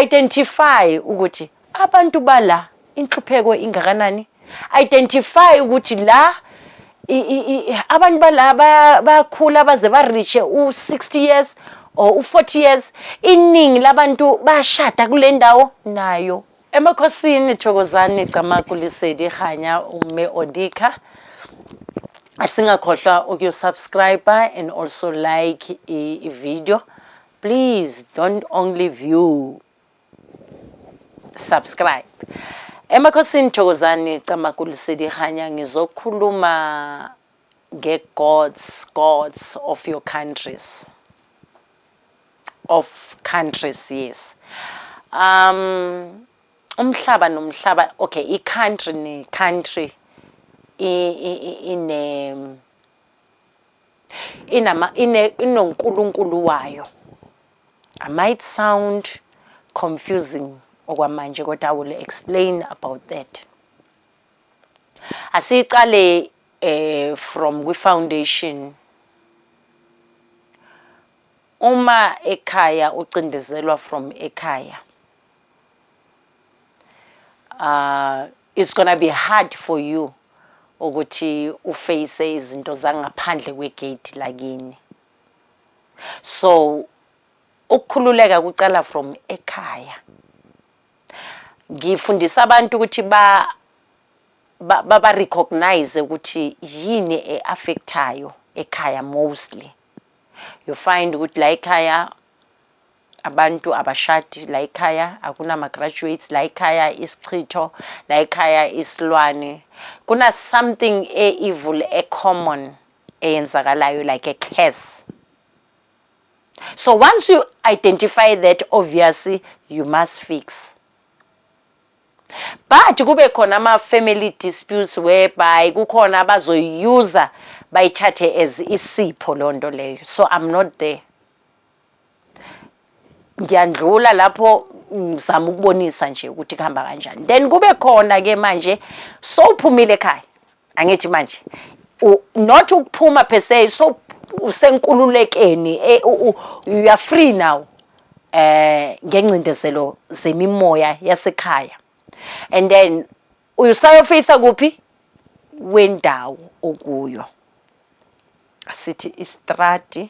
Identify ukuthi abantu bala inhlupheko ingakanani. Identify ukuthi la abantu bala bayakhula baze barishe u-60 years or u-40 years iningi labantu bashada kule ndawo nayo emakhosini thokozani camagu lisedi hanya ume odikha asingakhohlwa ukuyosubscribe and also like i-video Please don't only view subscribe. Emakhosini Thokozani Camakuli Sidihanya ngizokhuluma nge gods gods of your countries of countries yes. Um umhlaba nomhlaba okay i country ne country ine inama ine inonkulunkulu wayo I might sound confusing okwamanje kodwa I will explain about that asiqale eh from kwi foundation uma ekhaya ucindezelwa from ekhaya uh It's gonna be hard for you ukuthi uface izinto zangaphandle kwegate lakini. So ukukhululeka kucala from ekhaya. Ngifundisa abantu ukuthi ba baba recognize ukuthi yini eaffectayo ekhaya mostly. You find ukuthi la ekhaya abantu abashadi la ekhaya akunama-graduates la ekhaya isichitho la ekhaya isilwane kuna-something e-evil e-common eyenzakalayo like a curse so once you identify that obviously you must fix but kube khona ama-family disputes whereby kukhona abazoyuza bayithathe as isipho loo nto leyo so i'm not there ngiyandlula lapho ngizama ukubonisa nje ukuthi kuhamba kanjani then kube khona ke manje sowuphumile ekhaya angithi manje not ukuphuma per se so usenkululekeni e, you are free now eh ngengcindezelo zemimoya yasekhaya and then Uyusayofisa kuphi wendawo okuyo. Asithi istrati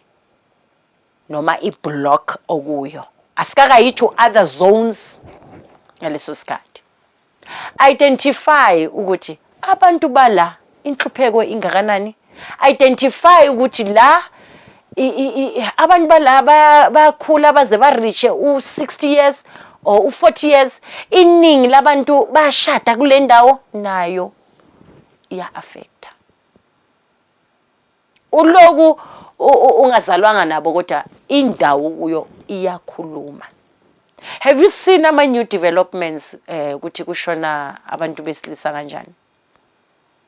noma iblock okuyo. Asikakayi to other zones ngaleso sikhathi. Identify ukuthi abantu bala Inhlupheko ingakanani? Identify ukuthi la abantu bala bayakhula baze barishe u-60 years or u-40 years iningi labantu bashada kule ndawo nayo iya-affecta uloku ungazalwanga nabo kodwa indawo kuyo iyakhuluma have you seen ama-new developments um ukuthi kushona abantu besilisa kanjani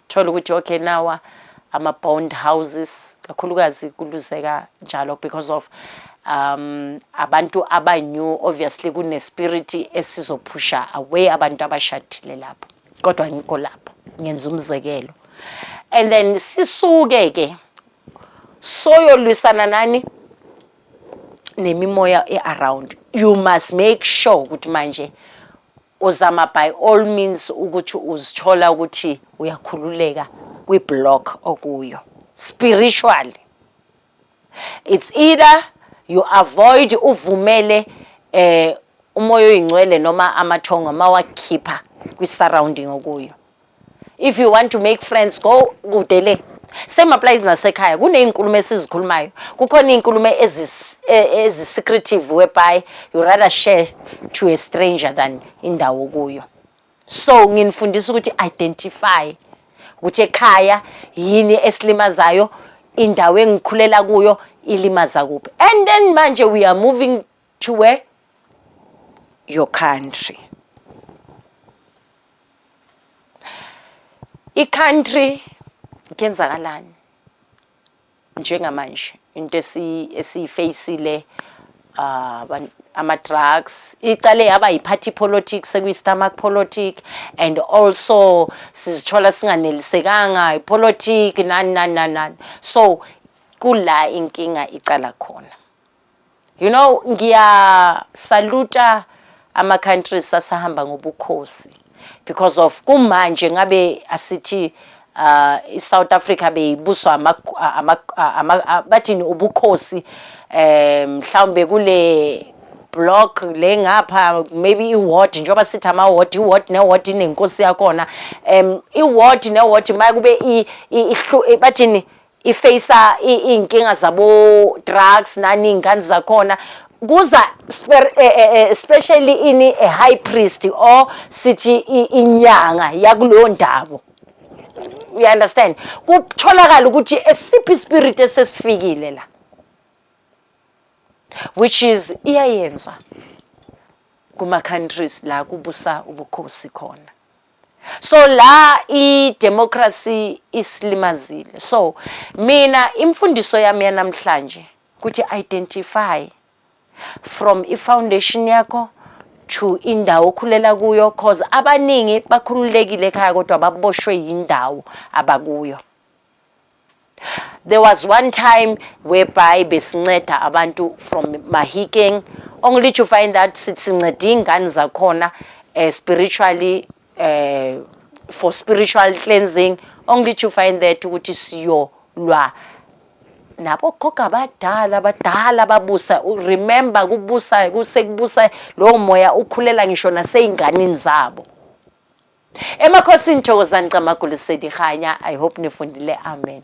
Thola ukuthi okay nawa ama bond houses kakhulukazi kuluzeka njalo because of um abantu aba new obviously kune spirit esizophusha away abantu abashadile lapho kodwa ngikho lapho ngenza umzekelo and then sisuke ke soyolwisana nani nemimoya e-around you must make sure ukuthi manje Uzama by all means ukuthi uzithola ukuthi uyakhululeka kwi-block okuyo spiritually. It's either you avoid uvumele eh umoya oyingcwele noma amathongo mawakhipha kwi-surrounding okuyo. If you want to make friends go kude le. Same applies nasekhaya. Kunezinkulumo esizikhulumayo. Kukhona izinkulumo ezis e, ezi secretive whereby you rather share to a stranger than indawo kuyo. So nginifundisa ukuthi identify ukuthi ekhaya yini esilimazayo, indawo engikhulela kuyo ilimaza kuphi. And then manje we are moving to where your country i-country kuyenzakalani njengamanje into esiyifeyisile uh, ama-drugs icale yaba yi-party politics sekuyi-stomach politic and also sizithola singanelisekanga ipolitic nani nani nani nani so kula inkinga icala khona You know ngiyasaluta ama countries asahamba ngobukhosi because of kumanje ngabe asithi uh, iSouth Africa beyibuswa ama, ama, ama, bathini ubukhosi eh, mhlawumbe um, kule block le ngapha maybe iward njengoba sithi ama-ward iward neward inenkosi yakhona um iward neward maye kube bathini ifacea iy'nkinga zabo-drugs nani iy'ngane zakhona kuza sper- eh, eh, eh, especially ini a high priest or sithi i- inyanga yakuleyo ndawo you understand kutholakala ukuthi esiphi ispirit esesifikile la which is iyayenzwa kuma-countries la kubusa ubukhosi khona so la i democracy isilimazile so mina imfundiso yami yanamhlanje ukuthi identify from i foundation yakho to indawo okhulela kuyo cause abaningi bakhululekile ekhaya kodwa baboshwe yindawo abakuyo There was one time whereby besinceda abantu from Mahikeng only to find that sinceda iy'ngane zakhona uh, spiritually uh, for spiritual cleansing only to find that ukuthi siyolwa nabo gogo abadala abadala babusa remember kubusa kusekubusa lowo moya ukhulela ngisho nasey'nganini zabo Emakhosini thokozani Camagu Lesedi Kganya I hope nifundile amen.